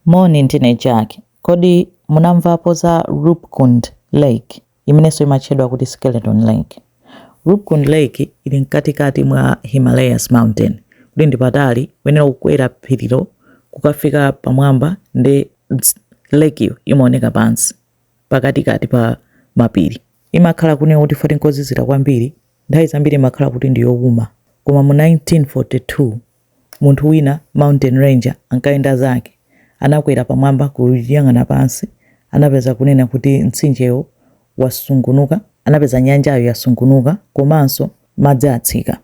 Moni, ndine Jack. Kodi munamvapo za Ruppkund Lake, imenenso imatchedwa kuti Skeleton Lake? Ruppkund Lake ili mkatikati mwa Himalayas Mountain. Kuli ndi patali, uyenera kukwera phirilo kukafika pamwamba ndi lakeyo imaoneka pansi pakatikati pa mapiri. Imakhala kunena kuti poti nkozizira kwambiri, nthawi zambiri imakhala kuti ndi youma. Koma mu 1942 Munthu wina, mountain ranger, ankayenda zake. Anakwera pamwamba kuyang'ana pansi. Anapeza kunena kuti mtsinjewo wasungunuka. Anapeza nyanjayo yasungunuka komanso madzi atsika.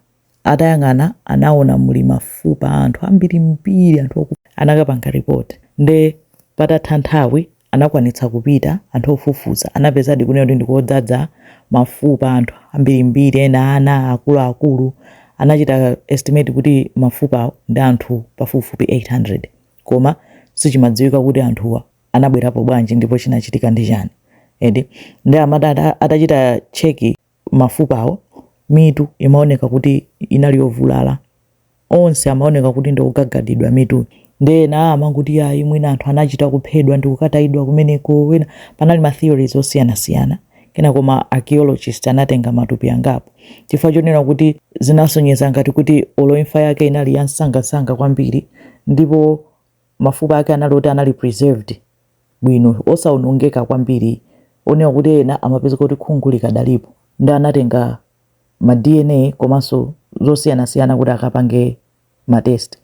Atayang'ana anaona muli mafupa a anthu ambirimbiri, anthu. Anakapanga report. Nde patatha nthawi anakwanitsa kupita, anthu ofufuza anapezadi kunena kuti ndikodzadza mafupa a anthu ambirimbiri, ena ana, akuluakulu. Anachita estimate kuti mafupawo ndi anthu pafupifupi 800. Koma sichimadziwika kuti anthuwa anabwerapo bwanji ndipo chinachitika ndi chani. Eti. Ndiye amati atachita check. mafupawo, mitu imaoneka kuti inali yovulala. Onse amaoneka kuti ndi ogagadidwa mitu. Ndiye ena amangoti ayi mwina anthu anachita kuphedwa ndi kukatayidwa kumeneko. Panali ma theories osiyanasiyana. Kenako ma archaeologist anatenga matupi angapo chifukwa chonena kuti zinasonyeza ngati kuti olo imfa yake inali yamsangamsanga kwambiri ndipo mafupa ake anali oti anali preserved bwino osaonongeka kwambiri onena kuti ena amapezeka kuti khungu likadalipo nde anatenga ma dna komanso zosiyanasiyana kuti akapange matest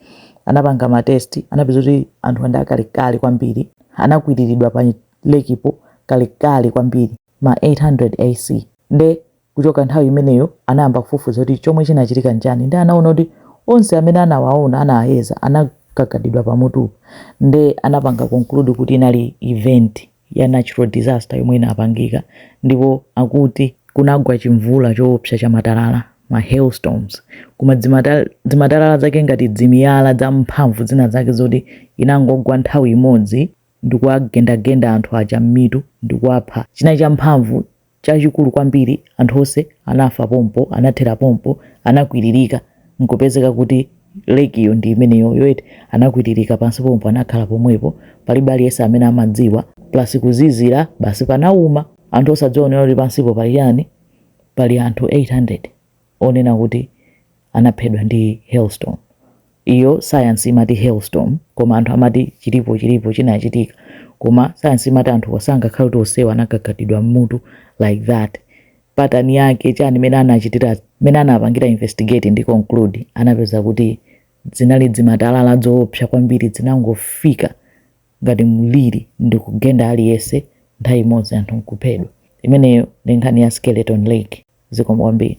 anapanga matest anapeza kuti anthuwa ndi akalekale kwambiri anakwiriridwa pa lekipo kalekale kwambiri ma 800 ac nde Kuchoka nthawi imeneyo, anayamba kufufuza kuti chomwe chinachitika n'chani nde anaona kuti onse amene anawaona, anawayeza, anagagadidwa pamutu nde anapanga conclude kuti inali event ya natural disaster yomwe inapangika ndipo akuti kunagwa chimvula choopsa cha matalala, ma hailstorms, koma zimatalala zake ngati zimiyala zamphamvu zinazake zoti inangogwa nthawi imodzi ndikuwagendagenda anthu aja m'mitu ndikuwapha china champhamvu chachikulu kwambiri, anthu onse anafa pompo, anathera pompo, anakwiririka, nkupezeka kuti Lake'yo ndi imeneyoyo eti, anakwiririka pansi pompo, anakhala pomwepo, palibe aliyense amene amadziwa, plus kuzizira, basi panauma, anthu osadziwa kunena kuti pansipo pali chani, pali anthu 800. onena kuti anaphedwa ndi hailstorm. Iyo sayansi imati hailstorm koma anthu amati chilipo chilipo chinachitika koma sayansi imati anthuwa sangakhale kuti onsewa anagagadidwa mmutu like that. Pattern yake chani mene anachitira mene anapangira investigate ndi conclude anapeza kuti dzinali dzimatalala dzoopsa kwambiri dzinangofika ngati mliri ndi kugenda aliyense nthawi imodzi anthu nkuphedwa. Imeneyo ndi nkhani ya Skeleton Lake. Zikomo kwambiri.